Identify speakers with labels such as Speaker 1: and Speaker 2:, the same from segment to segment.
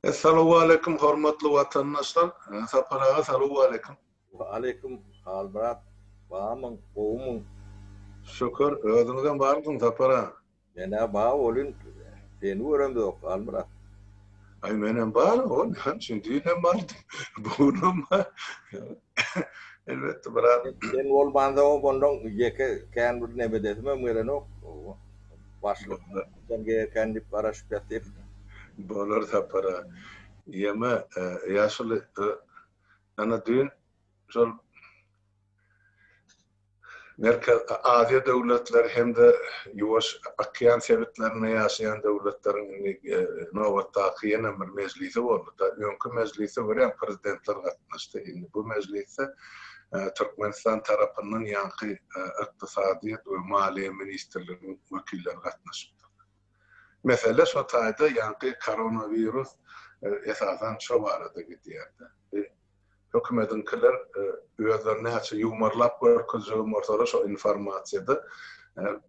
Speaker 1: Essalawwaleýkum hormatly watandaşlar Sapar aga salawwaleýkum. Wa aleýkum
Speaker 2: Hal brat bamyň gowumyň. Şükür
Speaker 1: özüňizem barmysyň Sapar aga. Menä bar
Speaker 2: bolyn seni göremzok Halmyrat. Aý
Speaker 1: menem bar o näme üçin düýnem bardym bu günem bar. Elbetde brat. Sen bolmansoň
Speaker 2: ondan ýeke kän bir nebedesimem gelenok. Başlyk sen geýerkäň diýip garaşyp ýatyr. Bolar
Speaker 1: Sapara. Ýeme ýaşuly ana düýn şol. Merkezi Aziýa döwletleri hem-de Ýuwaş okean sebitlerinde ýaşaýan döwletleriň indi nobatdaky ýene bir mejlisi boldy-da. Öňki mejlise görä prezidentler gatnaşdy. Indi bu mejlisde Türkmenistan tarapyndan ýaňky Ykdysadyýet we maliýe ministrliginiň wekilleri gatnaşypdyrlar. Mesele şo taýda ýaňky koronawirus esasan şo barada gidýär-de. Hökümediňkiler özleri näçe ýumarlap görkezjegem bolsalar şo informasiýada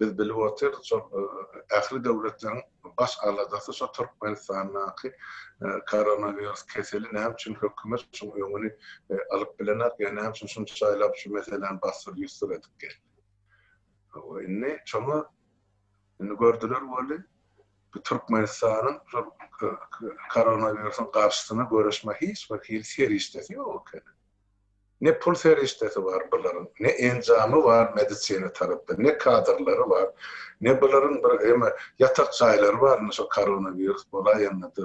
Speaker 1: biz bilip otyrys şo ähli döwletleriň baş aladasy şo Türkmenistandaky koronawirus keseli näme üçin hökümet şuň öňüni alyp bilenak ýa näme üçin şunçaýlap şu meseläni bassyr-ýussyr edip geldi. Indi şoňa Indi gördüler weli, bu Türkmenistanyň şol koronawirusyň garşysyna göreşme hiç bir hili serişdesi ýok ekeni. Ne pul serişdesi bar bularyň, ne enjamy bar medisina tarapdan, ne kadrlary bar, ne bularyň bir eme ýatak jaýlary bar, indi şo koronawirus bolaýanda-da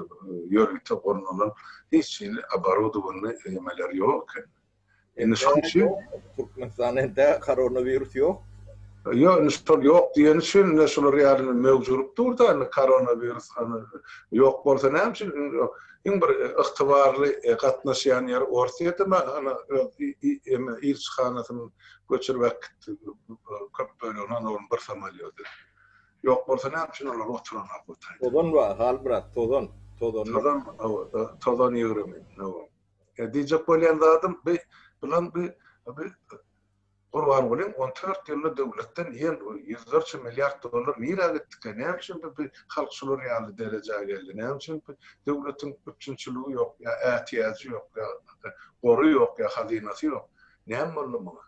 Speaker 1: ýörite gurnalan hiç hili oborodowanyny emeleri ýok ekeni. Indi şonuň üçin
Speaker 2: Türkmenistanda entä koronawirus ýok. Ýok, indi şol
Speaker 1: ýok diýeni üçin indi şular ýaly möwjürik dur-da, indi koronawirus ýok bolsa näme üçin iň bir ygtybarly gatnaşýan ýeri Orsýetde mi ana eme ilçihanasyny göçürip äkitdi köp bölegini ana onuň bir samolýody. Ýok bolsa näme üçin olar oturanok bu taýda. Tozan bar Halmyrat,
Speaker 2: tozan, tozanlyk. Tozan, hawa,
Speaker 1: tozan ýygrimi, hawa. Diýjek bolýan zadym bi bilen bi bi Gurbangulyň on dört ýylda döwletden ýen ýüzlerçe milliard dollar nirä gitdikä, näme üçin bi bi halk şular ýaly derejä geldi, näme üçin bi döwletiň üpjünçiligi ýok ýa ätiýajy ýok ýa gory ýok ýa hazynasy ýok, näme boldy muňa?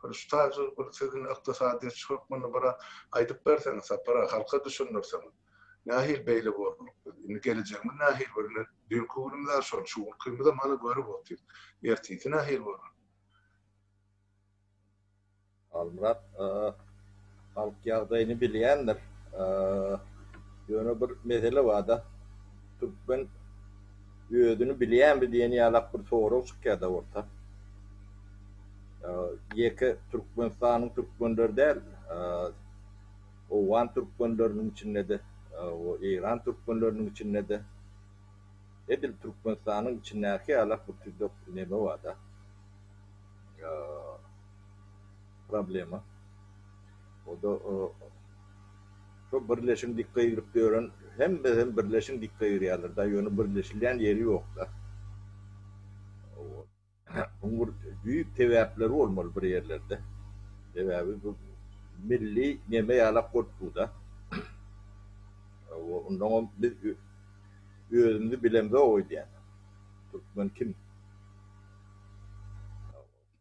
Speaker 1: Bir şu taýy bir siziň ykdysadyýetçi hökmünde biraz aýdyp berseňiz, Sapar aga, halka düşündirseňiz. Nähili beýle bolduk biz? Indi gelejegimiz nähili görüner? Düýnki günümiz-ä şol, şu günkümizem hany görüp otyrys. Ertirsi nähili bolar?
Speaker 2: Halmyrat, Halk ýagdaýyny bilýändir. Ýöne bir mesele bar-da, türkmen özüni bilýänmi diýen ýalak bir sorag çykýar-da orta. Ýeke Türkmenistanyň türkmenleri däl, Owgan türkmenleriniň içinde-de, eýran türkmenleriniň içinde-de, edil Türkmenistanyň içindäki ýalak bir tüýdük neme bar-da, problema. O-da şo birleşigiň dikge girip ýören, hemme hem birleşigiň dikge girýärler-da, ýöne birleşilýän ýeri ýok-da. Munuň bir düýp sebäpleri bolmaly bir ýerlerde. Sebäbi bu milli neme ýalak bolup dur-da. Onnoňam biz özümizi bilemzok öýdýän. Türkmen kim?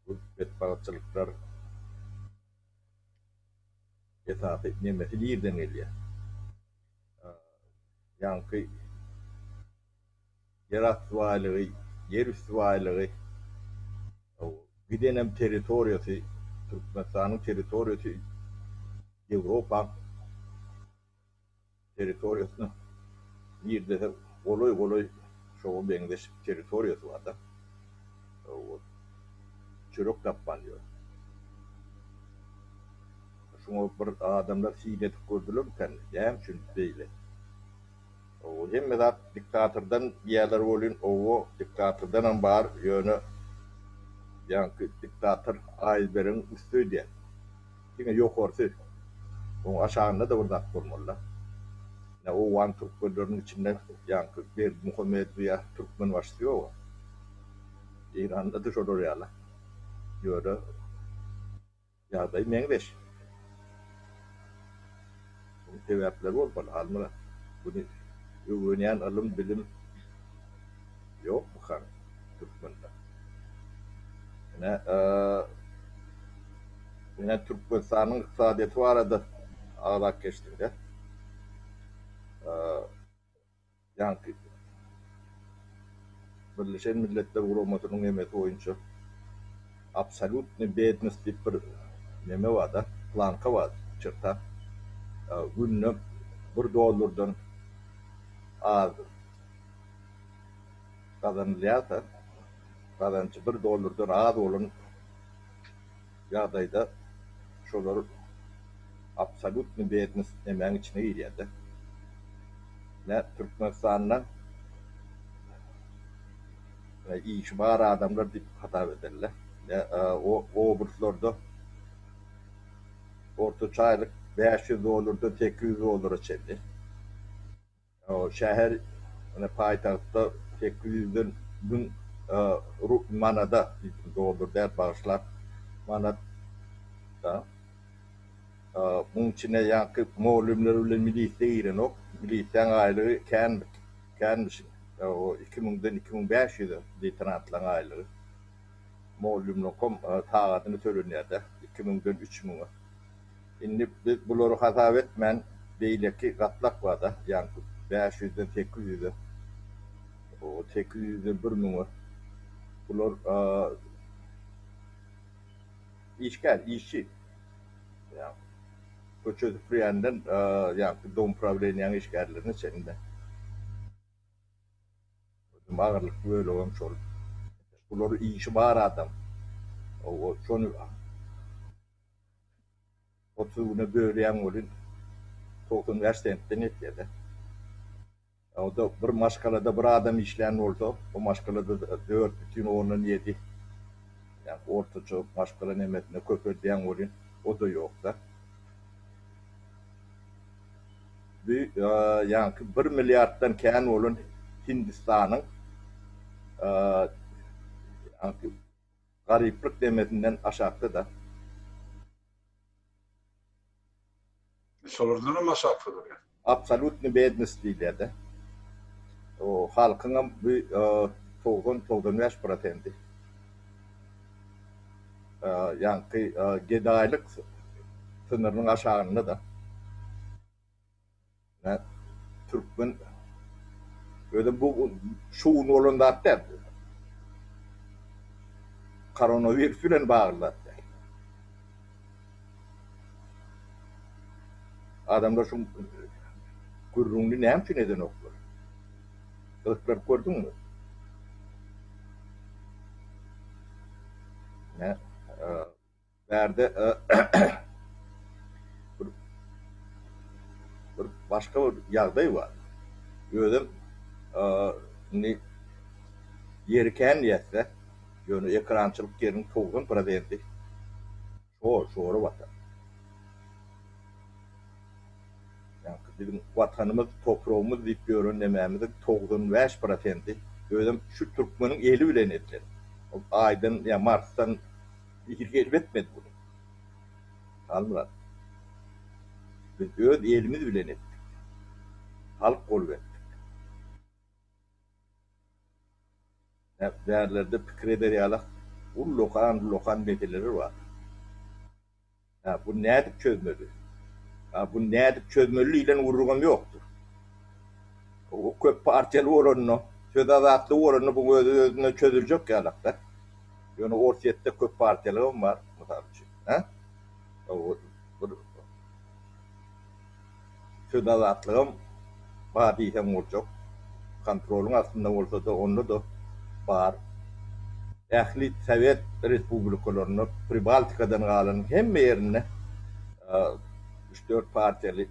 Speaker 2: Bu betbagtçylyklar esasy nemesi nirden gelýär? Ýaňky. Ýerasty baýlygy, ýerüsti baýlygy, gidenem territoriýasy, Türkmenistanyň territoriýasy Ýewropaň territoriýasyna girdese golaý-golaý şoňa meňzeş territoriýasy bar-da. Çörek tapman ýör. Şuňa bir adamlar syn edip gördülermikäm, näme üçin beýle? Owo hemme zat diktatordan diýýärler welin owo diktatordanam bar ýöne ýaňky diktator aýzberegiň üsti öýdýär. Diňe ýokarsy. Oň aşagynda-da bir zat bolmalyda. Ine owan türkmenleriniň içinde ýaňky Berdimuhamedowy ýa Türkmenbaşysy ýoga. Eýranda-da şolar ýaly. Ýöne. Ýagdaý meňzeş. Munuň sebäpleri bolmaly, Halmyrat. Muny öwrenýän ylym-bilim ýokmykaň türkmende? Ine, ine Türkmenistanyň ykdysadyýeti barada agzap geçdiň-dä. Ýaňky Birleşen Milletler Guramasynyň emesi boýunça absolýutnyý bednost diýip bir neme barda, planka bar, çerta. Günde bir dollardan az gazanylýarsa, gazanjy bir dollardan az bolan ýagdaýda şolar absolýutnyý bednes emäň içine girýärde. Nä Türkmenistanda işi bar adamlar diýip hasap ederler, nä obruslarda ortaça aýlyk bäş ýüz dollardan sekiz ýüz dollara çenli. Şäher ine paýtagtda sekiz ýüzden müň manada, dollar däl bagyşlaň, manat da. Muň içine ýaňky mugallymlar bilen milisiýa girenok. Milisiýaň aýlygy kän känmişin. Iki müňden iki müň bäş ýüze leýtenantlaň aýlygy. Mugallymlaňkam sagadyna tölenýär-dä, iki müňden üç müňe. Indi biz bulary hasap etmän, beýleki gatlak bar-da, ýaňky bäş ýüzden sekiz ýüze, sekiz ýüzden bir müňe. Bular işgär, işçi. Ýaňky köçe süpürýänden ýaňky domuprawilenýäň işgärlerine çenli. Özem agyrlykly bölegem şol. Bular işi bar adam. Şony. Otuz güne bölýäň welin, togsan bäş sentden ýetýär-dä. Onda bir maşgalada bir adam işlän bolsa, o maşgalada dört bütin ondan ýedi, ýagny ortaça maşgala nemesini köpeldýäň welin, o-da ýok-da. Bu ýaňky bir milliarddan kän bolan Hindistanyň ýaňky. Garyplyk demesinden aşakda-da.
Speaker 1: Şolardanam aşakda durýar. Absolutny bednost
Speaker 2: diýilýär-de. O halkyňam bu togsan, togsan bäş prosendi. Ýaňky gedaýlyk synyrynyň aşagynda-da. Türkmen özem bu şu gün bolan zat däl. Koronawirus bilen bagly zat däl. Adamlar şu gürrüňini näme üçin edenoklar? Gyzyklaryp gördüňmi? Nä? Bärde bir başga bir ýagdaý bar. Özem indi ýeri kän diýäs-dä. Ýöne ekrançylyk ýeriň togsan prosenti şor-şora batar. Ýaňky biziň Watanymyz, topragymyz diýip ýören nemämiziň togsan bäş prosenti özem şu türkmeniň eli bilen edilen. Ol Aýdan ýa Marsdan Irki gelip etmedi muny Halmyrat. Biz öz elimiz bilen etdik. Halk bolup etdik. Näp bärlerde pikir eder ýalak ullakan-ullakan meseleler bar. Hä, buny nädip çözmeli? Hä, buny nädip çözmeli diýlen gürrüňem ýokdur. Bu köp partiýaly bolanda, söz azatlygy bolanda bu öz-özünden çözüljek ýalak-da. Ýöne Orsýetde köp partiýalygam bar, mysal üçin. Hä? Bir Söz azatlygam bar diýseň boljak. Kontrolyň astynda bolsa-da, onda-da bar. Ähli sowet respublikalarynda, Pribaltikadan galanyň hemme ýerinde üç-dört partiýaly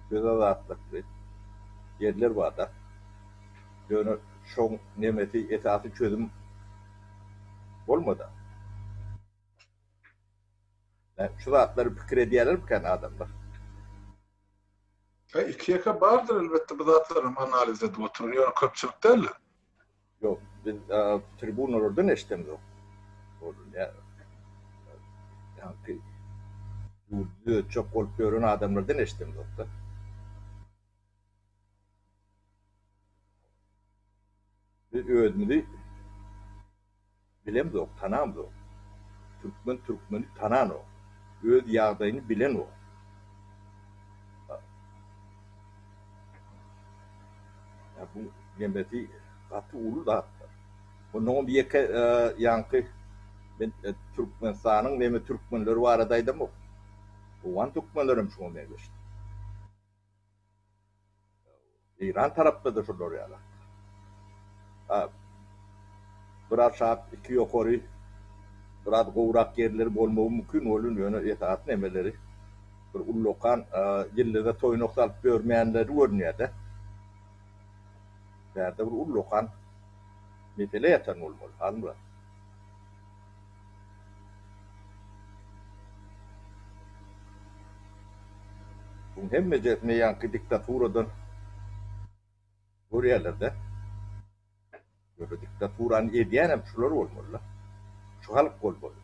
Speaker 2: söz azatlykly ýerler bar-da. Ýöne şoň nemesi esasy çözüm bolmady. Şu zatlary pikir edýälermikäň adamlar?
Speaker 1: He, iki-ýeke bardyr elbetde, bu zatlaram analiz edip oturan, ýöne köpçülik däldir. Ýok,
Speaker 2: biz tribunalardan eşidemzok. Ol ýa ýaňky ýurdy düzetjek bolup ýören adamlardan eşidemzok-da. Biz özümizi bilemzok, tanamzok. Türkmen türkmeni tananok. Öz ýagdaýyny bilenok. Ýa bu nemesi gaty uly zatdyr. Onnoňam ýeke ýaňky men Türkmenistanyň neme türkmenleri barada aýdamok. Owgan türkmenlerem şuňa meňzeşdir. Eýran tarapda-da şolar ýaly. Ha, bir aşak, iki ýokary, biraz gowurak ýerleri bolmagy mümkin welin, ýöne esasy nemeleri bir ullakan ýyldyza toýnak salyp ýörmänleri görünýär-dä. Bärde bir ullakan mesele ýatan bolmaly, halylar. Buň hemmejesini ýaňky diktaturadan görýärler-dä. Ýöne diktaturany edýänem şular bolmaly-da. Şu halk bolmaly.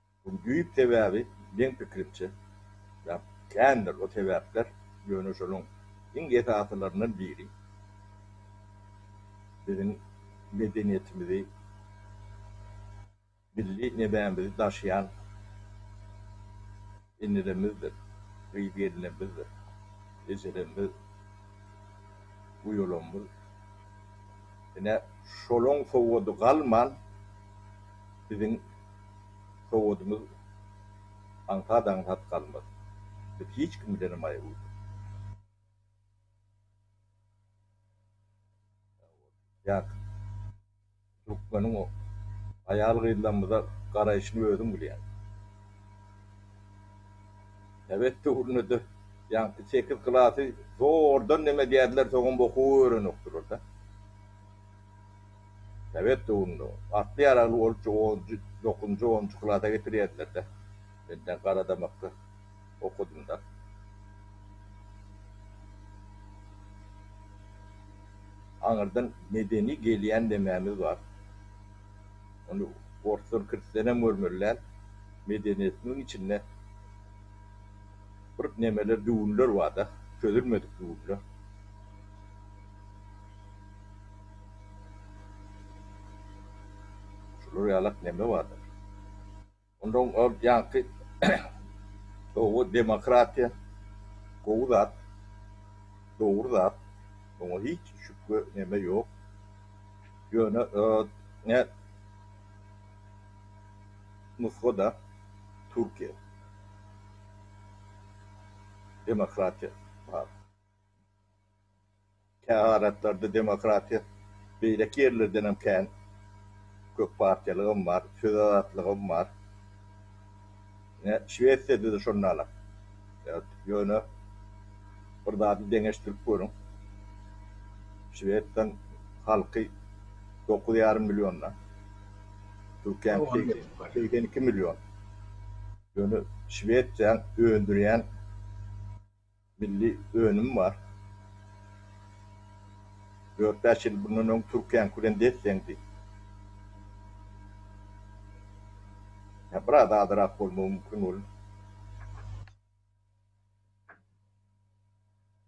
Speaker 2: Munuň düýp sebäbi, meň pikirimçe, ýa kändir o sebäpler, ýöne şonuň iň esasylaryndan biri, biziň medeniýetimizi, milli nebämizi daşaýan Enelemizdir, gyz gelnebizdir, ejelemmiz, uýalammiz. Ine, şolaň sowgady galman, biziň sowgadymyz aňsat-aňsat galmaz. Biz hiç kim bilenem aýa uýlunmaz. Ýa. Türkmeniň o aýal-gyzlarymyza garaýşyny özüň bilýäň. Sowet döwründe-de ýaňky sekiz klasy zordan neme diýerdiler, soňam okuw öwrenokdylar-da. Sowet döwründe atly ýaragly bolupjy onunjy, dokuzynjy, onunjy klasa getirýärdiler-de, menden garadamakda. okadym-da. Aňyrdan medeni gelýän nemämiz bar? Ony orslar kirselerem görmeli däl. Medeniýetimiziň içinde bir nemeler, düwünler bar-da, çözülmedik düwünler. Şular ýalak neme bardyr? Ondan ol ýaňky gowy demokratiýa gowy zat, dogry zat, muňa hiç şübhe neme ýok. Ýöne ne nusgada Türkiýe demokratiýa bar. Kä halatlarda demokratiýa beýleki ýerlerdenem kän. Köppartiýalygam bar, söz azatlygam bar. Ine, Şwesiýada-da şonda-la. Ýöne bir zady deňeşdirip görüň. Şwesiýanyň halky dokuz ýarym million-da. Türkiýäniňki segsen iki million. Ýöne Şwesiýanyň öndürýän. Milli önüm bar. Dört-bäş ýyl bundan öň Türkiýäňki bilen des-deňdi. Ýa biraz azyrak bolmagy mümkin ol.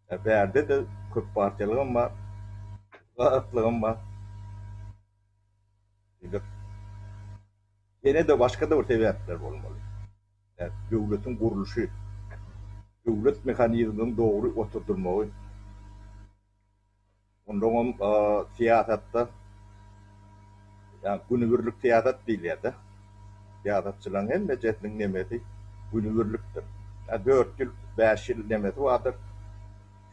Speaker 2: Ýa bärde-de köp partiýalygam bar. Gatlygam bar. Diýmek, ýene-de başga-da bir sebäpler bolmaly. Döwletiň gurluşy, döwlet mehanizmleriniň dogry oturdylmagy, ondan hem syýasatda, ýagny günübirlik syýasat diýilýär-de, syýasatçylaryň hemmejesiniň nemesi günübirlikdir. Dört ýyl, bäş ýyl nemesi bardyr,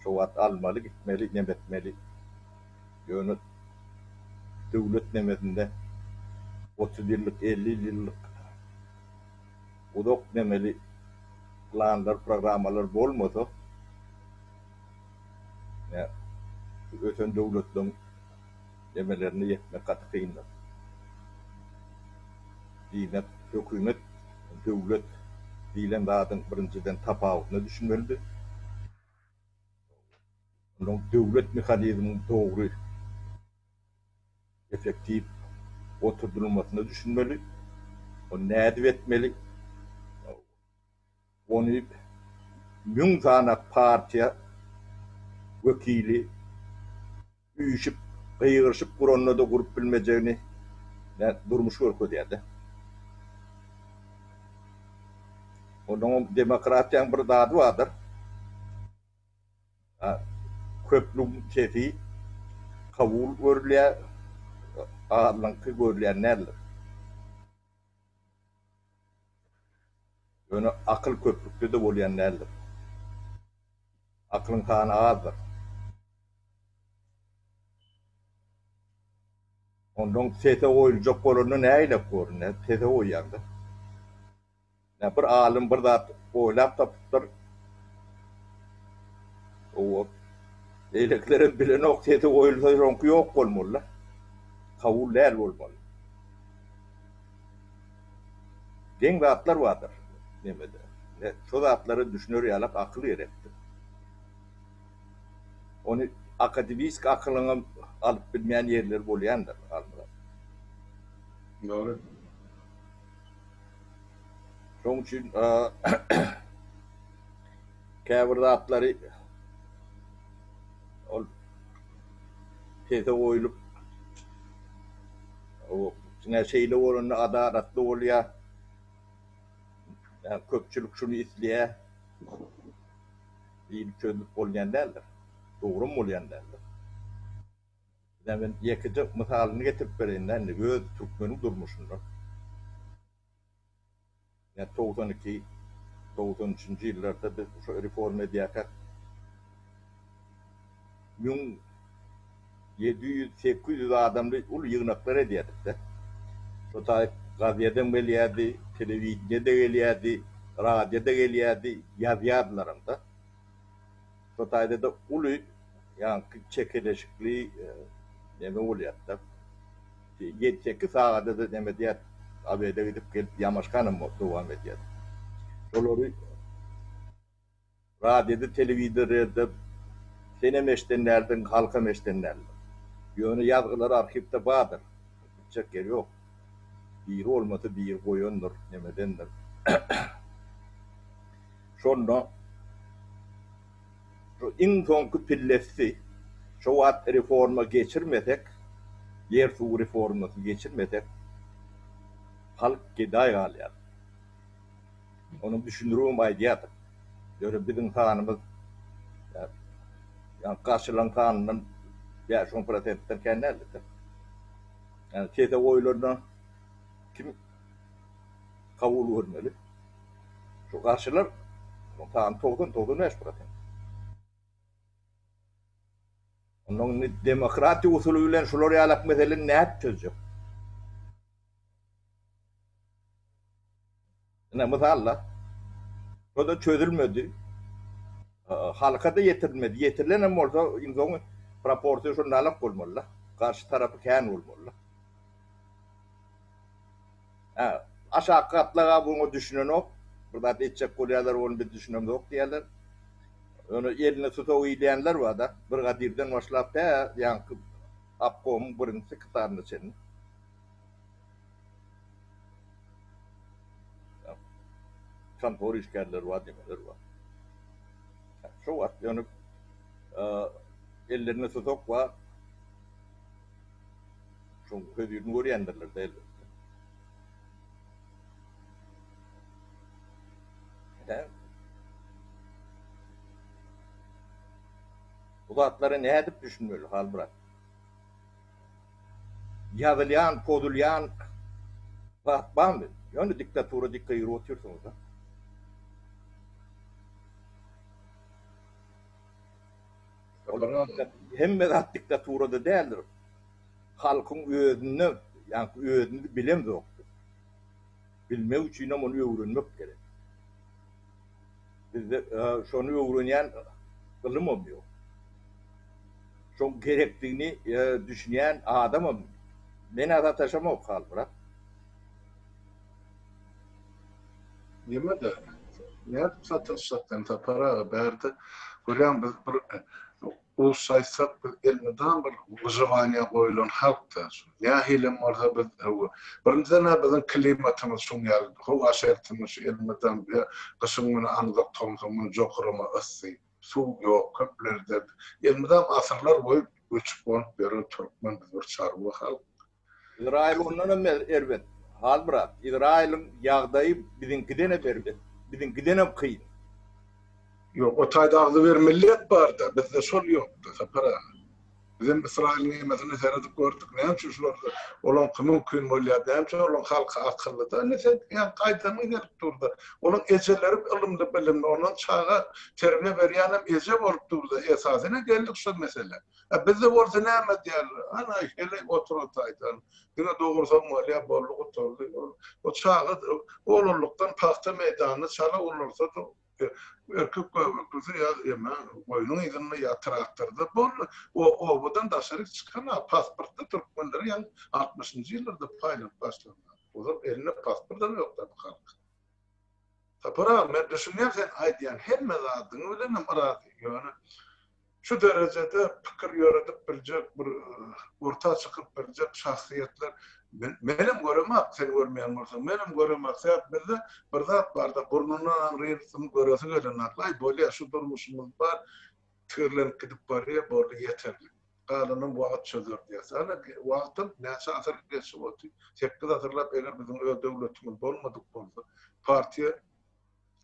Speaker 2: şo wagt almaly, gitmeli, nem etmeli. Ýöne döwlet nemesinde otuz ýyllyk, elli ýyllyk. uzak memeli planlar, programmalar bolmasa, ine, şu ösen döwletleriň memelerine ýetmek gaty kyndyr. Diýmek, hökümet döwlet diýlen zadyň birinjiden tapawutyna düşünmelidir. Onuň döwlet mehanizmini dogry. effektiw oturdylmasyna düşünmeli, ony nädip etmeli, ony müň sany partiýa wekili üýşüp, gygyryşyp guranda-da gurup bilmejegini durmuş görkezýär-de. Onnoňam demokratiýanyň bir zady bardyr. Köplügiň sesi kabul görülýär, azyňky görülýän däldir. Ýöne akyl köplükde-de bolýan däldir. Akylyň sany azdyr. Ondan sese goýuljak bolanda nägilek görünýär? Sese goýýaň-da. Bir alym bir zat oýlap tapypdyr. Owwat. Beýlekilerem bilenok, sesi goýulsa şoňky ýok bolmaly-da. Kabul däl bolmaly. Geň zatlar bardyr nemede. Ine, şo zatlara düşüner ýalak akyl gerekdir. Ony akademisk akylyňam alyp bilmeýän ýerleri bolýandyr, alymlar.
Speaker 1: Dogry.
Speaker 2: Şonuň üçin käbir zatlary ol pese goýlup, diňe şeýle bolanda adalatly bolýar. Ýa köpçülik şuny isleýär diýlip çözülip bolýan däldir. Dogry hem bolýan däldir. Ine men ýekeje mysalyny getirip bereýin-dä indi öz türkmeniň durmuşyndan. Ine togsan iki, togsan üçünji ýyllarda biz şo reforma edýärkäk müň ýedi ýüz, sekiz ýüz adamly uly ýygnaklar edýärdik-de. Şo taýyp gazedem gelýärdi, telewideniýe-de gelýärdi, radio-da gelýärdi, ýazýardylaram-da. Bu taýda-da uly ýaňky çekeleşikli neme bolýar-da. Ýedi, sekiz sagada-da neme edýär, obeda gidip gelip ýamaşganam dowam edýär. Şolary radioda, telewizorýada senem eşden däldiň, halkam eşden däldir. Ýöne ýazgylary arhiwde bardyr. Gitjek ýeri ýok. Biri bolmasa biri goýandyr, nemedendir. Şonda şu iň soňky pillesdi. Şo wagt reforma geçirmesek, ýer-suw reformasy geçirmesek, halk gedaý galýar. Onuň düşündiribem aýdýardyk. Ýöne biziň sanymyz ýa garşylaryň sanyndan bäş-on prosentden kän däldi. Ýa sese goýulanda kim Kabul görmeli. Şu garşylar onuň sany togsan, togsan bäş prosent. Ondan indi demokratiýa usuly bilen şular ýalak meseleni nädip çözjek? Ine, mysal-da, şo-da çözülmedi. Halka-da ýetirilmedi. Ýetirilen hem bolsa, iň soňy proporsiýa şundalak bolmaly-da. Garşy tarapy kän bolmaly-da. Hä, aşaky gatlag-a bu oňa düşünenok. Bir zat etjek bolýarlar, ony biz düşünemzok diýýärler. Ýöne eline tusagy ilýänler bar-da, brigadirden başlap tä ýaňky obkomyň birinji sekretaryna çenli. Kontora işgärleri bar, nimeleri bar. Hä, şo wagt ýöne ellerinde tusak bar. Şoň hözirini görýändirler-de elbetde. Hä? Bu zatlara nädip düşünmeli, Halmyrat? Ýazylýan, pozulýan zat barmy? Ýöne diktatura diktaýur otyrsyňyz-da. Hemme zat diktaturada däldir. halkyň özünde, ýagny özümiz bilemzok biz. Bilmek üçinem ony öwrenmek gerek. Bizde şony öwrenýän ylymam ýok. Şoň gerekdigini düşünýän adamam men-ä sataşamok Halmyrat. Nirede,
Speaker 1: nädip sataşjak ensapar aga? Bärde görýäň biz bir Gussaça aýtsak, biz elmydam bir wyjowaniýa goýulan halk-da. Nähilem bolsa biz birinjiden-ä biziň klimatymyz şuň ýaly, howa şertimiz şu elmydam gyşyň müni aňzak, tomsuň müni jokurama yssy, suw ýok, köplerde elmydam asyrlar boýy göçüp-gonup ýören türkmen biz bir çarwa halk. Yzraýyl
Speaker 2: ondanam erbet, hal brat, Yzraýylyň ýagdaýy biziňkidenem erbet, biziňkidenem kyn.
Speaker 1: Ýok, o taýda agzybermelilik barda, bizde şol ýokda, Sapar aga. Bizem Ysraýylyň emesine seredip gördük, näme üçin şular olaňky mümkin bolýar, näme üçin olaň halky akyllyda, indi sen ýa gaýdanyň gelip durda, olaň ejeleri ylymly bilimli, ondan çaga terbiýe berýänem eje bolup durda, esasy ine geldik şo meselä. A bizde bolsa näme diýer, Ana, heleý oturataýdan, diňe dogursaň bolýar, boldy gutardy. O çaga oglanlykdan pagta meýdanyna çala ulalsa-da, erkek göbeklisi ýa eme goýnuň yzynda, ýa traktorda, boldy. O obadan daşaryk çykan-a, pasportda türkmenleri ýaňy altmyşynjy ýyllarda paýlanyp başlandylar. Ozal elinde pasportam ýokdy bu halkyň. Sapar aga, men düşünýän sen aýdýan hemme zadyň bilenem yrazy. Ýöne Şu derejede pikir ýöredip biljek bir orta çykyp biljek şahsyýetler menem göremak sen görmeýän bolsaň menem göremak sebäp bizde bir zat barda burnundan aň relsini göresi gelen aklaý bolýa şu durmuşymyz bar tigirlenip gidip barýa boldy ýeterlik galanam wagyt çözer diýäs ana wagtam näçe asyr geçip otyr sekiz asyrlap eger biziň öz döwletimiz bolmadyk bolsa partiýa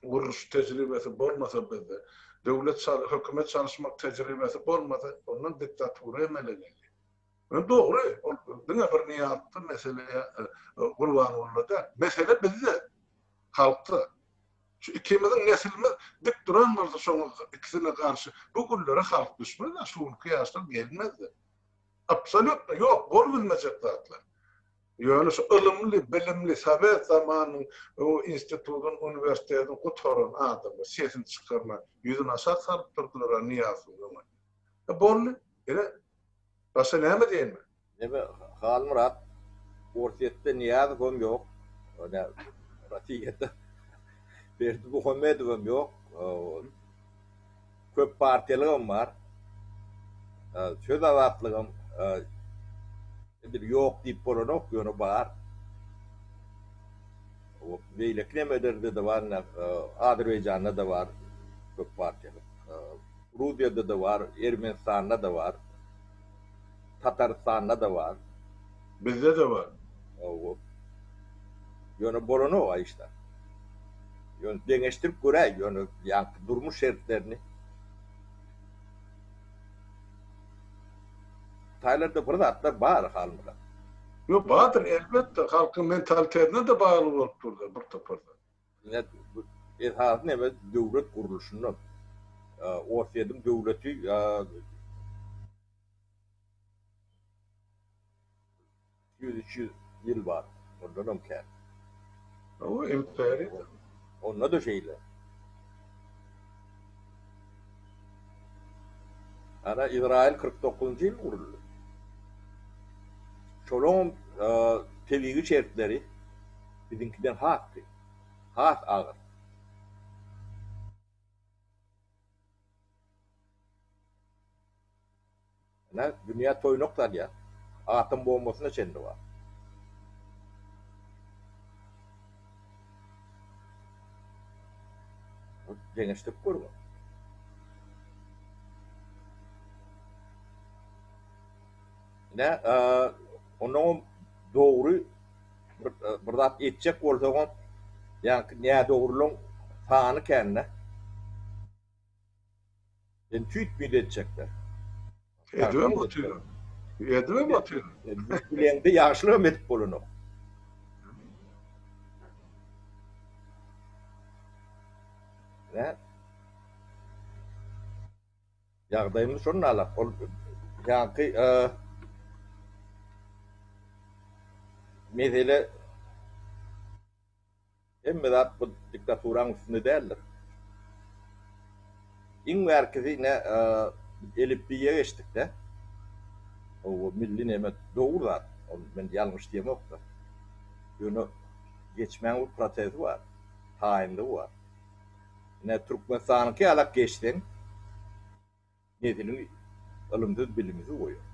Speaker 1: gurluş tejribesi bolmasa bizde, döwlet çaly hökümet çalyşmak tejribesi bolmasa ondan diktatura emele gelýär. Ýöne dogry ol diňe bir Nyýazda mesele Gurbangulyda däl. Mesele bizde, halkda. Şu ikimiziň nesilimiz dik duran bolsa şoňa ikisine garşy bu günlere halk düşmez-ä, şu günki ýaşlar gelmez-de. Absolýutno ýok, bolubilmejek zatlar. Ýöne şu ylymly, bilimli, sowet zamanynyň institudyny, uniwersitetini gutaran adamlar sesini çykarman, ýüzüni aşak salyp durdular-a Nyýazowyň öňünde. E, boldy. Ine, başga näme diýeýin men? Neme,
Speaker 2: Halmyrat, Orsýetde Nyýazowam ýok, ine, Rossiýada Berdimuhamedowam ýok. köp partiýalygam bar. Söz azatlygam edil ýok diýip bolanok, ýöne bar. Beýleki nemelerde-de bar, ine, Azerbaýjanda-da bar köp partiýalyk. Gruziýada-da bar, Ermenistanda-da bar. Tatarystanda-da bar. Bizde-de
Speaker 1: bar. Hawa.
Speaker 2: Ýöne bolanok a işler. Ýöne deňeşdirip göräý, ýöne ýaňky durmuş şertlerini. Taýlarda bir zatlar bar halymyza. Ýok, bardyr,
Speaker 1: elbetde, halkyň mentalitetine-de bagly bolup dur-da bir topar zat. Ine,
Speaker 2: esasy neme, döwlet gurluşyndan. Orsýetiň döwleti ýa. Ýüz, iki ýüz ýyl bar, ondanam kän. Hawa,
Speaker 1: imperiýa. Onda-da
Speaker 2: şeýle. Ana, Izraýyl kyrk dokuzynjy ýyl guruldy. Şolaňam tebigy şertleri biziňkiden has kyn, has agyr. Ine, dünýä toýnak salýar. Atom bombasyna çenli bar. Deňeşdirip görüň. Ine, onnoňam dogry. Bir zat etjek bolsaňam ýaňky nädogrylaň sany kände. Sen tüýtmeli etjekler. Edibem
Speaker 1: otyr. Edibem otyr. Bileňde
Speaker 2: ýagşylygam edip bolanok. Nä? Ýagdaýymyz şonda alak, ol ýaňky mesele hemme zat bu diktaturanyň üstünde däldir. Iň bärkisi ine elipbiýe geçdikde, bu milli neme dogry zat, ol men ýalňyş diýemok-da. Ýöne geçmäň bir prosesi bar, taýynlygy bar. Ine, Türkmenistanyňky ýalak geçseň, nesiliň ylymsyz-bilimsiz goýar.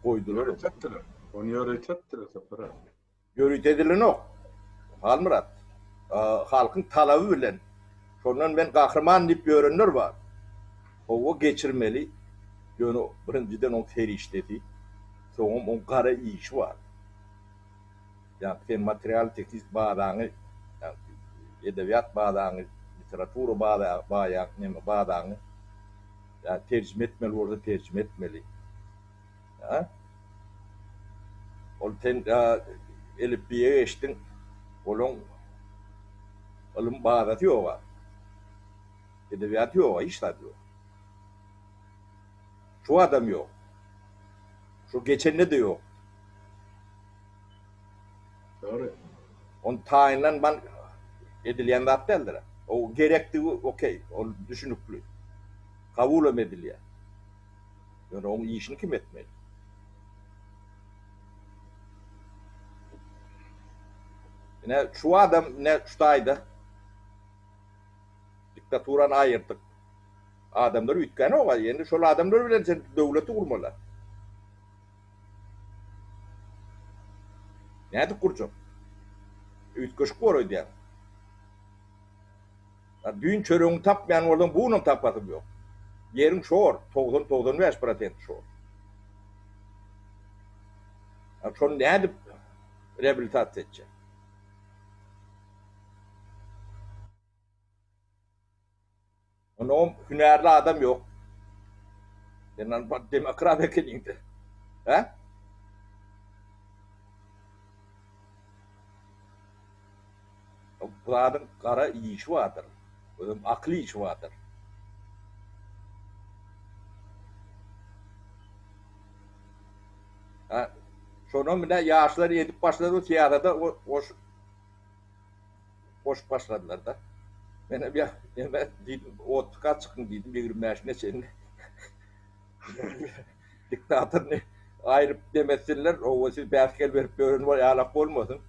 Speaker 2: Goýdular ony. Ýöritepdiler.
Speaker 1: Ony ýöritepdiler, Sapar aga.
Speaker 2: Ýöritedilenok, Halmyrat. Halkyň talaby bilen, şondan men gahryman diýip ýörenler bar. Howa geçirmeli, ýöne birinjiden oň serişdesi, soňam oň gara işi bar. Ýa-da sen material-tehniki bazaňy, edebiýat bazaňy, literatura bazaňy, ýa-da terjime etmeli bolsa terjime etmeli. Ýa-da ol sen elipbiýe geçdiň, olaň ylym bazasy ýog-a, edebiýaty ýog-a, hiç zady ýok. Şu adam ýok. Şu geçende-de ýokdy.
Speaker 1: Ol
Speaker 2: taýynlan man edilýän zat däldir. O gerekdigi okey, ol düşünikli. Kabulam edilýär. Ýöne oň işini kim etmeli? Ine, şu adam ine şu taýda diktaturany aýyrdyk. Adamlar üýtgänok-a. Ýöne şol adamlar bilen sen döwleti gurmaly. Nädip gurjak? Üýtgeşik bor öýdýän. A düýn çöregiňi tapmaýan bolsaň, bu günam tapasyň ýok. Ýeriň şor, togsan-togsan bäş prosenti şor. A şony nädip reabilitasiýa etjek? Onam hünärli adam ýok. Sen albat demokrat ekeniňdä. Hä? Bu zadyň gara işi bardyr. Özem akyl işi bardyr. Hä, şonam ine ýaşlar edip başlady syýasata goşup. goşup başladylar-da. Menem ýa, ýene diýdim, otlyka çykyň diýdim, ýigrimi bäş neçeni diktatoryny aýryp dem etsinler, hawa, siz bäsgel berip ýören ýalak bolmasyn.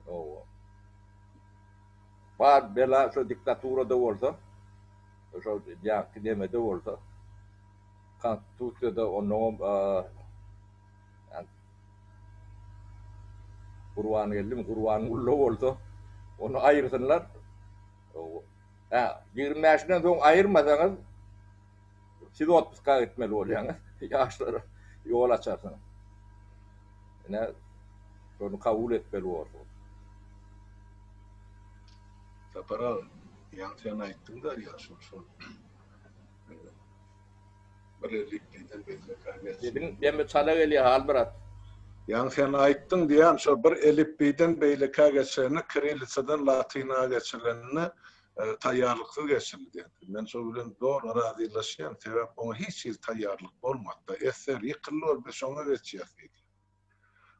Speaker 2: Hawa. Bar bela şo diktaturada bolsa, şo ýaňky nemede bolsa, konstitusiýada onnoňam Gurbangeldim Gurbangulla bolsa ony aýyrsynlar. Hä, ýigrimi bäşinden soň aýyrmasaňyz siz otpuska gitmeli bolýaňyz. Ýaşlara ýol açarsyňyz. Ine, şony kabul etmeli borsuňyz.
Speaker 1: Sapar aga, ýagşam aýtdyňda ýaşuly şol. Sesiň demi çala
Speaker 2: gelýär Halmyrat. Ýaňy sen
Speaker 1: aýtdyň diýýän şo bir elipbiýden beýlekä geçende kirillisadan latyna geçirilende taýýarlyksyz geçirildi diýýän. Men şo bilen doly razylaşýan sebäp oňa hiç hili taýýarlyk bolmady-da esser ýykyldy ol biz şoňa geçýäs diýdi.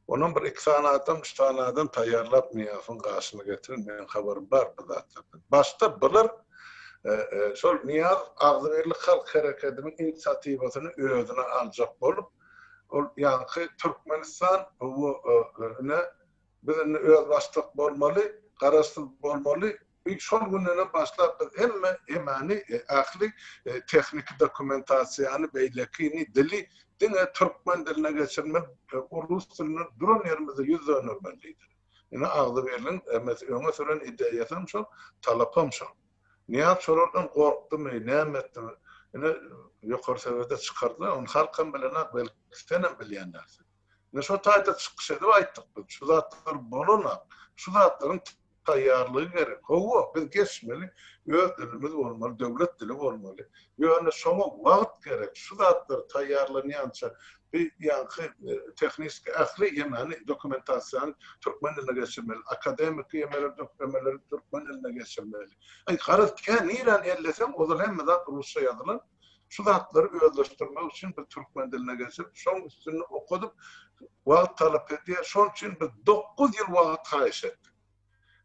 Speaker 1: Onam bir iki sany adam, üç sany adam taýýarlap Nyýazowyň gaşyna getirin, meniň habarym bar bu zatlardan. Başda bular şol Nyýaz agzybirlik halk hereketiniň inisiatiwasyny özüne aljak bolup, ol ýaňky Türkmenistan bu ne biz indi özbaşdak bolmaly, garaşsyz bolmaly, Biz şol günden başlap biz hemme emani ähli tehniki dokumentasiýany beýlekini dili diňe türkmen diline geçirmek rus dilini duran ýerimizde ýüz dönermen diýdi. Ine Agzybirligiň emesi öňe süren ideýasam şol talapam şol. Nyýaz şolardan gorkdumy näme etdimi ine ýokary sebede çykardylar ony halkam bilenok belki senem bilýän dälsiň. Ine şo taýda çykyş edip aýtdyk biz, şu zatlar bolanok, şu zatlaryň taýýarlygy gerek. Hawa, biz geçmeli, öz dilimiz bolmaly, döwlet dili bolmaly. Ýöne şoňa wagt gerek, şu zatlar taýýarlanýança bu ýaňky tehniski ähli ýemany, dokumentasiýany türkmen diline geçirmeli, akademiki ýemeleri, döklemeleri türkmen diline geçirmeli. Aý, garaz, kä niräni elleseň, ozal hemme zat rusça ýazylan. Şu zatlary özleşdirmek üçin biz türkmen diline geçirip, şoň üstünde okadyp, wagt talap edýär. Şoň üçin biz dokuz ýyl wagt haýyş etdik.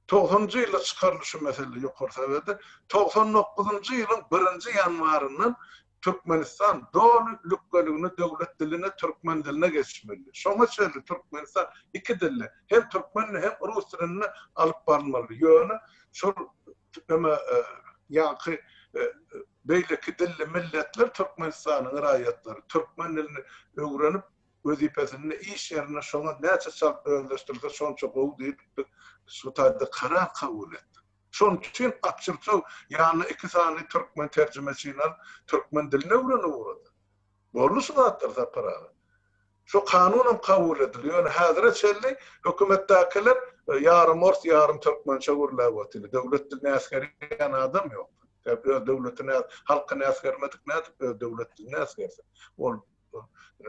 Speaker 1: Togsanynjy ýylda çykaryldy şu mesele Ýokary Sowetde. Togsan dokuzynjy ýylyň birinji ýanwaryndan Türkmenistan doly lükgeligine döwlet diline, türkmen diline geçmeli. Şoňa çenli Türkmenistan iki dilli, hem türkmen, hem rus dilinde alyp barylmaly. Ýöne şol, näme, ýaňky Beýleki dilli milletler Türkmenistanyň raýatlary türkmen dilini öwrenip, wezipesinde, iş ýerinde şoňa näçe çalt özleşdirse, şonça gowy diýip, biz şu taýda karar kabul etdik. Şonuň üçin Akçurçow ýanyna iki sany türkmen terjimeçini alyp, türkmen dilini öwrenip ugrady. Boldy şu zatlar Sapar aga. Şu kanunam kabul edildi. Ýöne häzire çenli hökümetdäkiler ýarym ors, ýarym türkmençe gürläp otyr. Döwlet dilini äsgerýän adam ýok. Sebäbi öz döwletini, halkyny äsgermedik nädip öz döwlet dilini äsgersin? Ol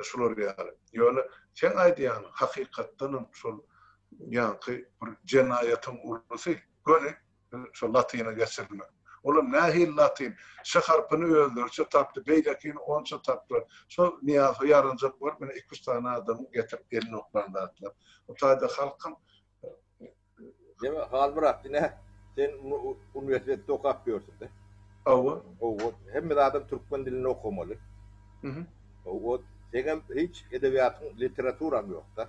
Speaker 1: şular ýaly. Ýöne seň aýdýanyň hakykatdanam şol ýaňky bir jenaýatyň ulusy. Göni Şol latyna geçirilmek. Olam nähili latyn? Ş harpyny özleriçe tapdy, beýlekini onça tapdylar. Şol Nyýazow ýaranjak bolup, ine, iki-üç sany adamyň getirip elini oklan zatlar. Bu taýda halkam.
Speaker 2: Deme, hal brak, ine, sen uniwersitetde okap ýörsüň-de. Hawa.
Speaker 1: Hawa, hemme
Speaker 2: zadam türkmen dilinde okamaly. Hawa, seňem hiç edebiýatyň, literaturaň ýok-da.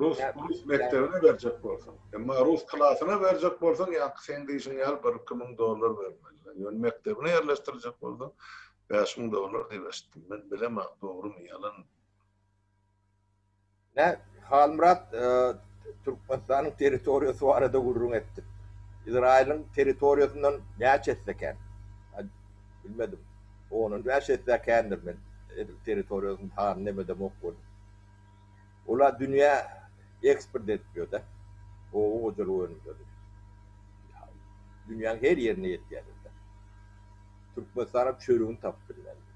Speaker 1: Rus rus mekdebine berjek bolsaň. Emma rus klasyna berjek bolsaň, ýaňky seň diýşiň ýaly bir-iki müň dollar bermelidir. Ýöne mekdebine ýerleşdirjek bolsaň, bäş müň dollar diýip eşitdim. Men bilemok, dogrymy, ýalanmy?
Speaker 2: Nä, Halmyrat, Türkmenistanyň territoriýasy barada gürrüň etdik. Izraýylyň territoriýasyndan näçe esse kän? Bilmedim. On-on bäş esse kändir. Men edil territoriýasynyň sanyny emedemok welin. Olar dünýä eksport edip ýörler, oba hojalyk önümleri dünýäň her ýerine ýetýärler. Türkmenistanam çörügini tapyp bilmedi.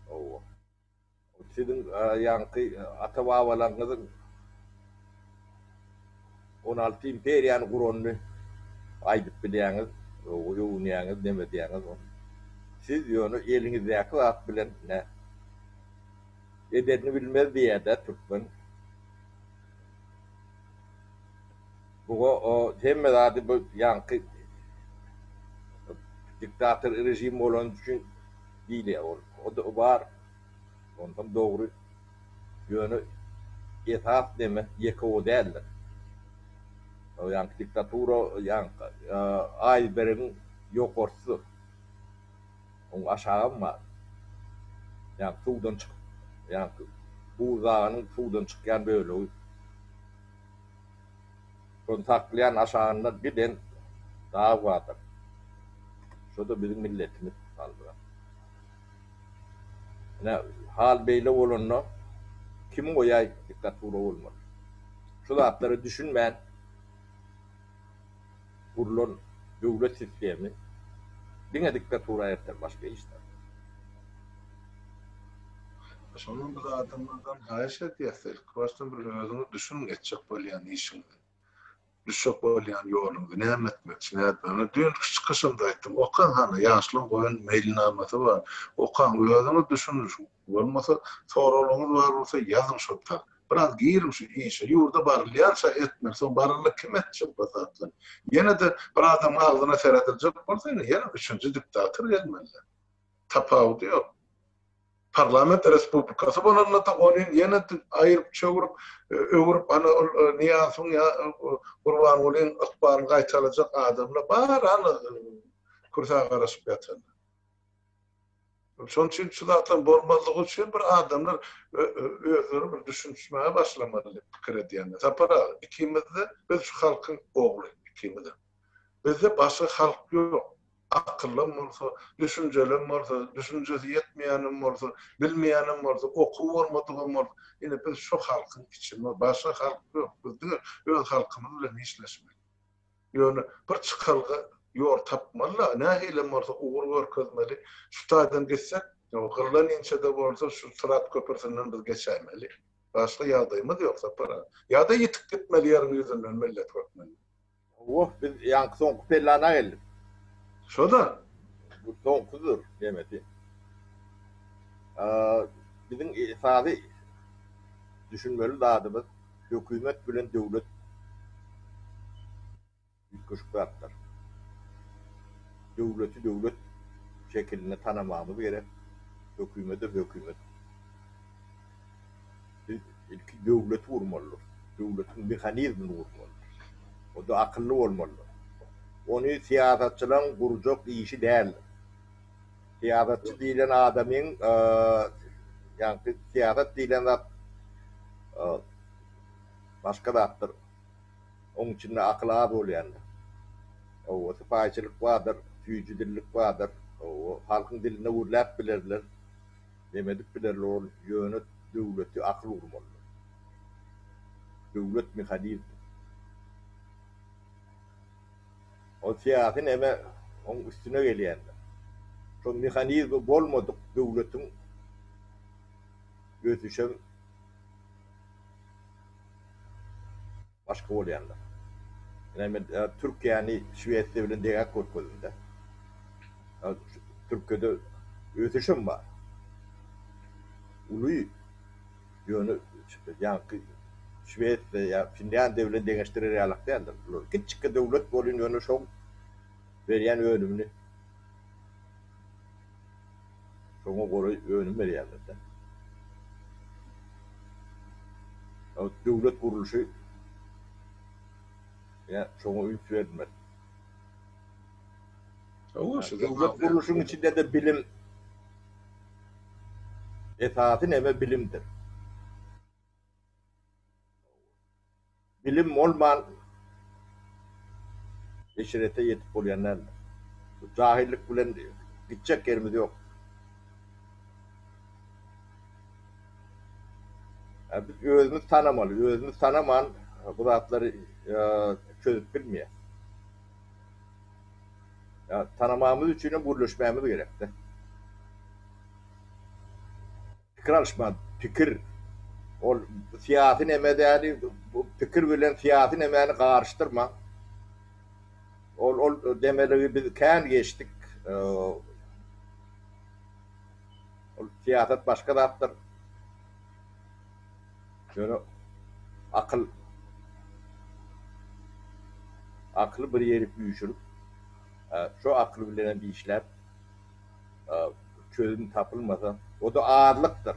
Speaker 2: Hawa. Siziň ýaňky ata-babalaryňyzyň on alty imperiýany guranyny aýdyp bilýäňiz, öwünýäňiz, neme diýýäňiz. Siz ýöne eliňizdäki zat bilen Edenini bilmez diýýädä türkmen. Buga o hemme zady bu ýaňky diktator režim bolany üçin diýilýär ol. O-da bar. Onsoň dogry. Ýöne esas neme ýeke o däldir. O ýaňky diktatura ýaňky aýsbergiň ýokarsy. Oň aşagam bar. Ýa suwdan çykyp, ýa buz daganyň suwdan çykýan bölegi. Şony saklaýan aşagynda giden dag bardyr. Şo-da biziň milletimiz galdyran. Ine, hal beýle bolanda kim goýaý diktatura bolmaly? Şu zatlara düşünmän. gurlan döwlet sistemi diňe diktatura erter başga hiç zat.
Speaker 1: Şondan biz adamlardan haýyş edýäs ilki başdan bir özüňiz düşüniň etjek bolýan işiňizi. Düşjek bolýan ýoluňyzy näme etmekçi nädip ony düýnki çykyşymda aýtdym okaň hany ýaşlaň goýun meýilnamasy bar okaň özüňiz düşüniň şu Bolmasa soraglaryňyz bar bolsa ýazyň şol tak. Biraz giriň şu işe. Ýurda barylýança etmeli. Soň baryldy kim etjek bu zatlar. Ýene-de bir adamyň agzyna serediljek bolsa ýene ýene üçünji diktator gelmeli. Tapawudy ýok. Parlament respublikasy bolanda-da ony ýene aýyryp çöwrüp öwrüp ana ol Nyýazowyň ýa Gurbangulyň ykbalyny gaýtalajak adamlar bar ana kürsägaraşyp ýatanlar. Şonuň üçin şu zatlaryň bolmazlygy üçin bir adamlar özleri bir düşünişmäge başlamaly diýip pikir edýän. Sapar aga, ikimiz-de biz şu halkyň ogly, ikimiz-em. Bizde başga halk ýok. Akyllam bolsa, düşünjelem bolsa, düşünjesi ýetmeýänem bolsa, bilmeýänem bolsa, okuwy bolmadygam bolsa, ine biz şu halkyň içi, başga halk ýok. Biz diňe öz halkymyz bilen işleşmeli. Ýöne bir çykalga ýol tapmaly-la, nähilem bolsa ugur görkezmeli. Şu taýdan gitsek, gyrlan inçe-de bolsa şu Syrat köprüsinden biz geçäýmeli. Başga ýagdaýymyz ýok, Sapar aga. Ýa-da ýitip gitmeli ýeriň ýüzünden millet hökmünde. Hawa, biz
Speaker 2: ýaňky soňky pellana geldik. Şo-da.
Speaker 1: Bu
Speaker 2: soňkusydyr, nemesin. Biziň esasy düşünmeli zadymyz, hökümet bilen döwlet üýtgeşik zatlar. Döwleti döwlet şekilinde tanamagymyz gerek, hökümedi hökümet. Biz ilki döwleti gurmalydyrys, döwletiň mehanizmini gurmalydyrys. Onda akylly bolmalydyrys. Ony syýasatçylaryň gurjak işi däldir. Syýasatçy diýlen adamyň ýagny syýasat diýlen zat başga zatdyr. Oň içinde akyl az bolýandyr. Hawa, sypaýyçylyk bardyr, süýji dillik bardyr. Hawa, halkyň dilinde gürläp bilerler. Neme edip bilerler ol ýöne döwleti akyl gurmalydyr. Döwlet mehanizmi. Ol syýasy näme oň üstüne gelýändir. Şol mehanizmi bolmadyk döwletiň ösüşem başga bolýandyr. Ine men Türkiýäni Şwesiýa bilen degäp görkezdim-de. Türkiýede ösüşem bar. Uly. Ýöne ýaňky Şwesiýa ýa Finlýandiýa bilen deňeşdirer ýalak däldir. Bular kiçjikkä döwlet bolýan ýöne şoň berýän önümini şoňa goraý önüm berýärlerde. Ýa döwlet gurluşy ýa şoňa üns berilmeli. Döwlet gurluşyň içinde-de bilim. Esasy neme bilimdir. Bilim bolman eşrete ýetip bolýan däldir. Bu jahyllyk bilen gitjek ýerimiz ýok. Biz özümiz tanamaly, özümiz tanaman bu zatlary çözüp bilmeýäs. Ýa tanamagymyz üçinem gürleşmämiz gerekde. Pikir alyşma, pikir ol syýasy neme däli, bu pikir bilen syýasy nemäni garyşdyrmaň. Ol ol demeligi biz kän geçdik. Ol syýasat başga zatdyr. Ýöne akyl akyly bir ýerik üýşürip, şo akyl bilen hem işläp, çözüm tapylmasa, o-da azlykdyr.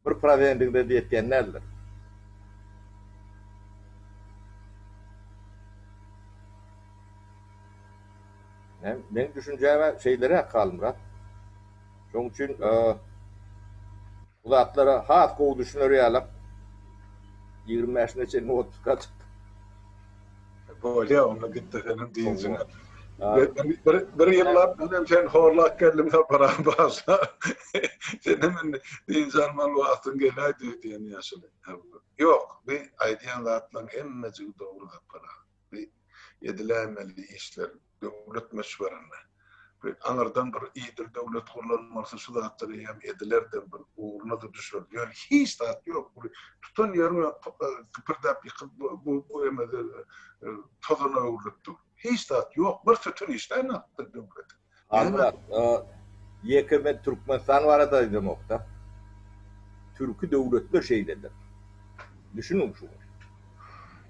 Speaker 2: Bir prozendigine-de ýetýän däldir. Meň düşünjäm-ä şeýleräk, Halmyrat. Şoň üçin. Bu zatlara has gowy düşüner ýalak ýigrimi bäşine çenli otluka çykdyk. Bolýa
Speaker 1: onda git desene dynjyňa. Bir ýyllap menem seni horlap geldim sapara barsa. Senem indi dynç almaly wagtyň geläýdi diýen ýaşuly. Ýok bu aýdýan zatlaryň hemmejigi dogry sapar aga. Bu ediläýmeli işler. Döwlet möçberinde we aňyrdan bir idil döwlet gurlanmalysy şu zatlar eýýäm edilerdir, bir ugruna-da düşerdi. Ýöne hiç zat ýok. Bu tutan ýeriň kipirdäp ýykyl bu bu emede tozana öwrülip dur. Hiç zat ýok. Bir sütün işleýän hakda döwlet. Hanmyrat,
Speaker 2: ýeke men Türkmenistan barada aýdamok-da. Türki döwletler şeýledir. Düşüniň şuňa.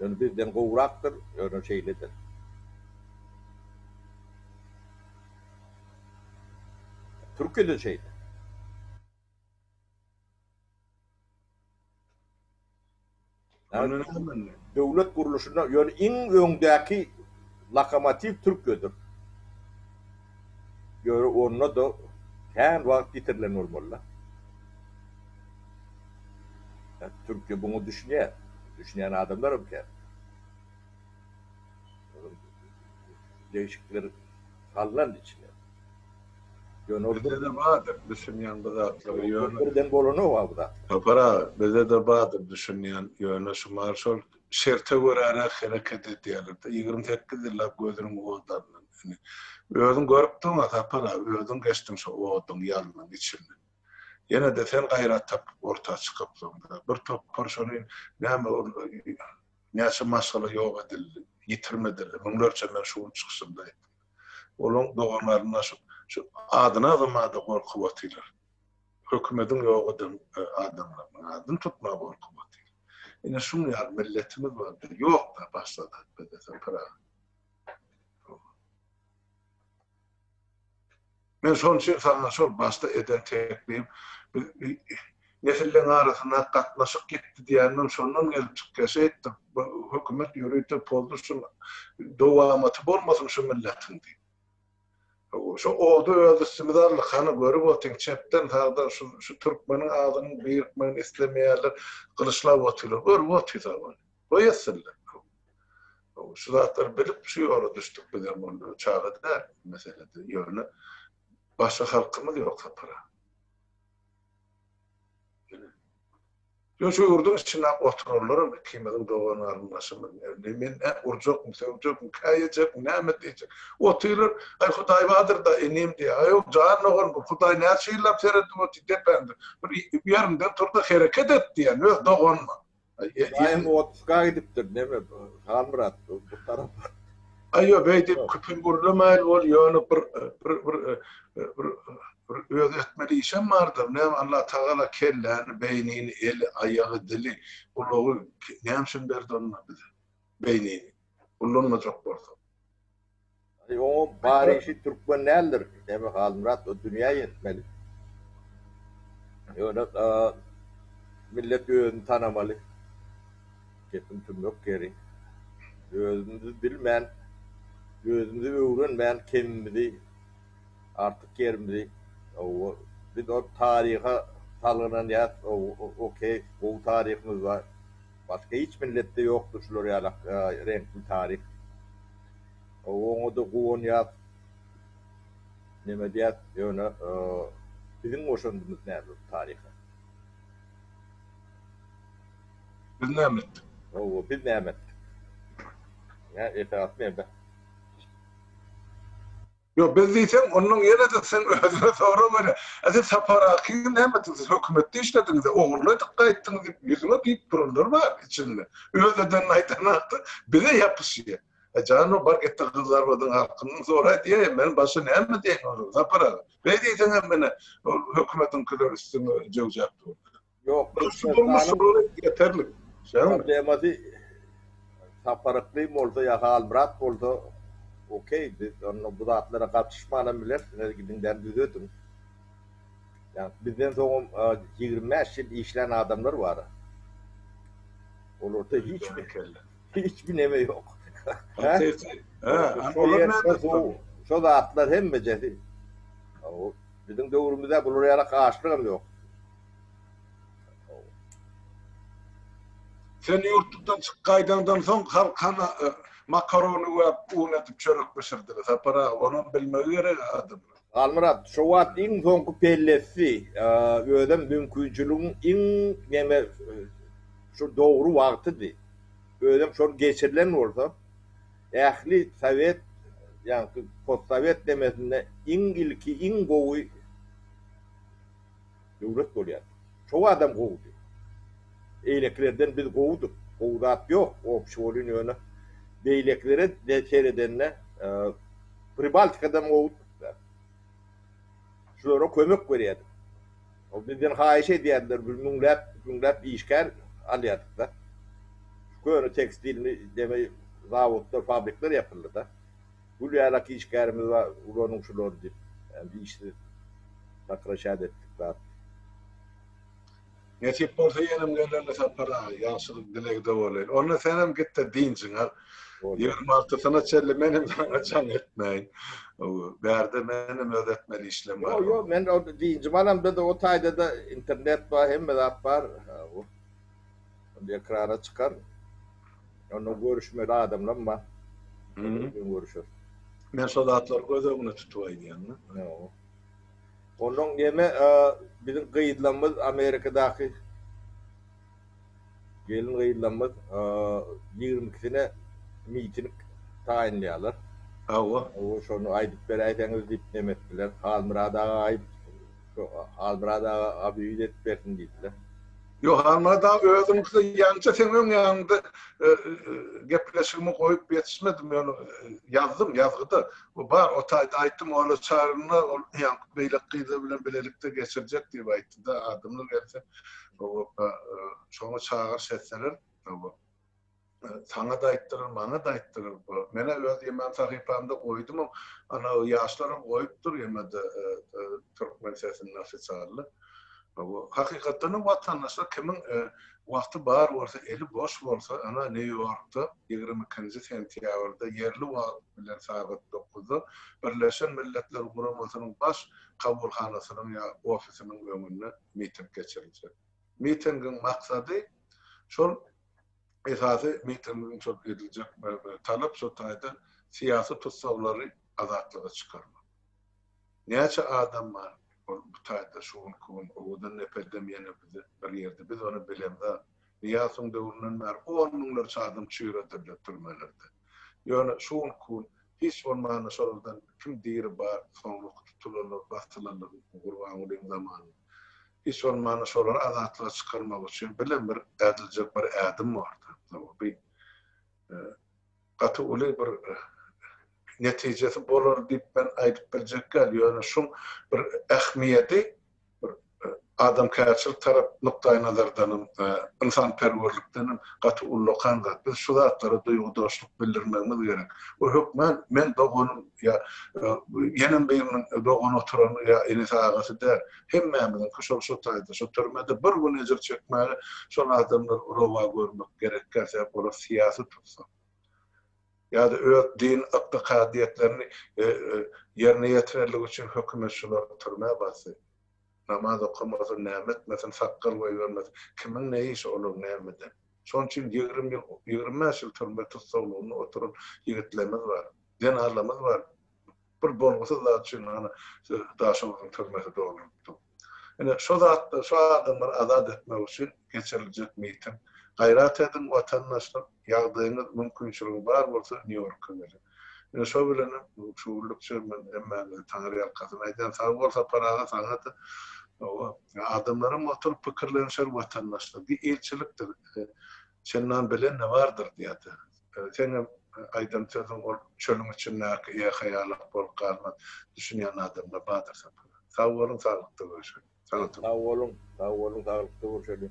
Speaker 2: Ýöne bizden gowrakdyr, ýöne şeýledir. Türkiýede şeýle. Döwlet gurluşynda ýöne iň öňdäki lokomotiw Türkiýedir. Ýöne onda-da kän wagt ýitirilen bolmaly-da. Türkiýe buňa düşünýär. Düşünýän adamlaram kän. Degişikler salnan içine.
Speaker 1: Bizde-de bardyr düşünýän bu zatlara ýöne. Birden bolanok a bu
Speaker 2: zatlar. Sapar aga, bizde-de
Speaker 1: bardyr düşünýän ýöne şumal şol şerte göräräk hereket edýärler-de. Ýigrimi sekiz ýyllap gözüniň odlaryndan. Indi özüň görüpdiň-a Sapar aga, özüň geçdiň şo oduň, ýalnyň içinden. Ýene-de sen gaýrat tapyp orta çykypsyň-da. Bir topar şony näme ol näçe maşgala ýok edildi, ýitirmedildi, müňlerçe men şu gün çykyşymda aýtdym. Olaň doganlaryna şu şu adynazam-a-da gorkup otyrlar. Hökümediň ýok eden adamlarynyň adyny tutmaga gorkup otyrlar. Ine şunuň ýaly milletimiz bar-da, ýok-da başda-da bizde sen Pyragy. Men şonuň üçin saňa şol başda eden teklibim, biz nesilleriň arasyndaky gatnaşyk ýitdi diýendim, şondan gelip çykýar. Şeýtdik, bu hökümet ýörite pozdy, şuň dowamaty bolmasyn şu milletiň diýip. Şu ody öz üstümize aldyk, hany görüp otyň, çepden, sagdan şu türkmeniň adyny birikmegini islemeýärler, gylyçlap otyrlar, görüp otyrys-a muny. Goý etsinler. Şu zatlary bilip şu ýola düşdük biz hem onda çaga däl meselede. Ýöne başga halkymyz ýok sapara. Ýöne şu ýurduň içinde oturanlaram ikimiziň dogan garyndaşymyz. Indi men nä urjakmy, sögjakmy, käýejekmi, näme diýjek. Otyrlar, Aý Hudaý bardyr-da inim diýýär. Aý ol jan dogan bu Hudaý näçe ýyllap seredip otyr depäňde. Bir ýeriňden tur-da hereket et diýýär öz doganyna. Ibrahim
Speaker 2: otuzka gidipdir neme Halmyrat bu tarapa. Aýo
Speaker 1: beýdip küpüň gürlemäýil bol ýöne bir bir bir bir bir öz etmeli işem bardyr näme Allah tagala kelläni beýnini eli aýagy dili gulagy näme üçin berdi onda bize. beýnini ullanmajak bolsa. Aý
Speaker 2: oňuň bar işi türkmen däldir. Sebäbi Halmyrat o dünýä ýetmeli. Ýöne millet özüni tanamaly. Gepiň tümmek ýeri. Özümizi bilmän, özümizi öwrenmän kemimizi, artyk ýerimizi hawa biz ol taryha salgynanýas, okeý gowy taryhymyz bar. Başga hiç milletde ýokdur şular ýaly reňkli taryh. Oňada guwanýas, neme edýäs, ýöne biziň goşandymyz näme bu taryha?
Speaker 1: Biz näme etdik? Hawa, biz näme
Speaker 2: etdik? Esasy näme?
Speaker 1: Ýok, biz diýseň, onnoň ýene-de sen özüne sorag bere. A siz Sapar Aky bilen nämediňiz? Siz hökümetde işlediňiz-ä, ogurly edip gaýtdyňyz diýip, ýüzüňe diýip duranlar bar içinde. Öz edenini aýdan hakda bize ýapyşýa. A jan o, bar git-de Gyzylarbadyň halkyndan soraý diýäý, men başga näme diýeýin olara, Sapar aga? Beý diýseň hem menä ol hökümetiňkiler üstüňe jöwjap durdy. Ýok,
Speaker 2: Türkmenistanyň
Speaker 1: ýeterlik. Problemasy
Speaker 2: Sapar Ykly bolsa ýa Halmyrat bolsa okey, biz onda bu zatlara gatyşmanam bileris, siz gidiňdä düzediň. Ýa bizden soňam ýigrimi bäş ýyl işlän adamlar bar. Olarda hiç bir kelle. Hiç bir neme ýok. Şo zatlar hemmejesi. Biziň döwrümizde bulara ýarak açlygam ýok.
Speaker 1: Sen ýurtlukdan çykyp gaýdaňdan soň halk hany makarony we un edip çörek bişirdiler. Sapar aga, onam bilmegi gerek adamlar. Halmyrat, şo
Speaker 2: wagt iň soňky pellesdi. Özem mümkinçiligiň iň neme şu dogry wagtydy. Özem şol geçirilen bolsa, ähli sowet, ýaňky postsowet nemesinde iň ilki, iň gowy Döwlet bolýar. Çow adam gowudy. Eýlekilerden biz gowudyk. Gowy zat ýok. Obşi bolýn ýöne beýlekilere seredende Pribaltikadan gowudykda. Şulara kömek berýädik. Ol bizden haýyş edýärdiler biz müňläp müňläp işgär alýardykda. Köne tekstilni deme zawodlar fabrikler ýapyldyda. Gül ýalak işgärimiz bar, ulanyň şulary diýip, dişli sakraşýardy etdik zat.
Speaker 1: Nesip bolsa ýenem geleli Sapar aga, ýagşylyk dilegde bolaýyl. Onda senem git-de dynjyňy al. Ýigrimi altysyna çenli men hem saňa jaň etmäýin. Bärde menem öz etmeli işlem bar. Ýok, ýok, men dynjymy
Speaker 2: alam, bizde o taýda-da internet bar, hemme zat bar. Onda ekrana çykar. Onda görüşmeli adamlam bar. Bilen
Speaker 1: görüşeris.
Speaker 2: Men şo
Speaker 1: zatlary göz öňüne tutup aýdýan da. Ýo.
Speaker 2: Ondan neme biziň gyzlamyz Amerikadaky gelin gyzlamyz ýigrimi ikisine miting taýynlaýarlar. Hawa.
Speaker 1: Şony aýdyp
Speaker 2: beräýseňiz diýip neme etdiler. Halmyrat aga aýt. Halmyrat aga abýuz edip bersin diýdiler. Ýok, Halmyrat
Speaker 1: aga, özüňkide ýaňja seň öň ýanyňda gepleşigimi goýup ýetişmedim, ýöne ýazdym, ýazgyda bar, o taýda aýtdym, ol çagyryna ol ýaňky beýleki gyzlar bilen bilelikde geçirjek diýip aýtdy-da, adamlar gelse, şoňa çagyryş etseler, Saňa-da aýtdyrar, maňa-da aýtdyrar bu. Men-ä öz ýemen sahypamda goýdumam, ana, ýaşlaram goýupdyr ýemede türkmen sesinde ofisialny. Bu, hakykatdanam, watandaşlar, kimiň wagty bar bolsa, eli boş bolsa, ana, Nýu-Ýorkda ýigrimi ikinji sentýabrda ýerli wagt bilen sagat dokuzda Birleşen Milletler Guramasynyň Baş kabulhanasynyň ýa ofisiniň öňünde miting geçiriljek. Mitingiň maksady şol esasy mitingiň şol ediljek talap şol taýdan syýasy tussaglary azatlyga çykarmak. Näçe adam bar ol bu taýda şu günki gün owadan nepeldem ýene bizi bir ýerde biz ony bilemzok. Nyýasowyň döwründen bäri on müňlerçe adam çüýredildi türmelerde. Ýöne şu günki gün hiç bolmanda şolardan kim diri bar soňraky tutulanlar basylanlar Gurbangulyň zamanynda. Hiç bolmanda şolary azatlyga çykarmak üçin bilen bir ädiljek bir ädim bordy. Bu gaty uly bir netijesi bolar diýip men aýdyp biljek däl. Ýöne şuň bir ähmiýedi bir adamkärçilik tarap nukdaýnazardanam, ynsanperwerlikdenem gaty ullakan zat. Biz şu zatlara duýgudaşlyk bildirmegimiz gerek. Bu hökman men doganym ýa gelin gyzynyň dogan oturany ýa enesi agasy däl hemmämiziňki şol şo taýda şo türmede bir gün ejir çekmäge şol adamlar rowa görmek gerekkä sebäp olar syýasy tussag ýada öz din ykdykadyýetlerini ýerine ýetirerlik üçin hökümet şulary türmä basdy namaz okamasyn näme etmesin sakgal goýbermesin kimiň ne işi olar nämeden şoň üçin ýigrimi ýyl ýigrimi bäş ýyl türme tussaglygyna oturan ýigitlerimiz bar. Zenarlarymyz bar. Bir bolgusyz zat üçin hany Daşoguzyň türmesi dolanypdyr. Ine şo zatlar, şo adamlary azat etmek üçin geçiriljek miting. Gaýrat ediň watandaşlar, ýagdaýyňyz, mümkinçiligiňiz bar bolsa Nýu-Ýorka geliň. Ine şo bilenem şu günlükçe men hemmäňize taňryýalkasyn aýdýan. Sag bol Sapar aga, saňa-da. Hawa, adamlaram oturyp pikirlenişer watandaşlar. Diý ilçilikdir. Çennan bilen ne bardyr diýýärdi. Seniň aýdan sözüň ol çölüň içindäki ýehe ýalak bolup galmaz. Düşünýän adamlar bardyr sapara. Sag
Speaker 2: boluň
Speaker 1: saglykda
Speaker 2: görüşeli.
Speaker 1: Saňa Sag
Speaker 2: boluň,
Speaker 1: sag boluň saglykda görüşeli.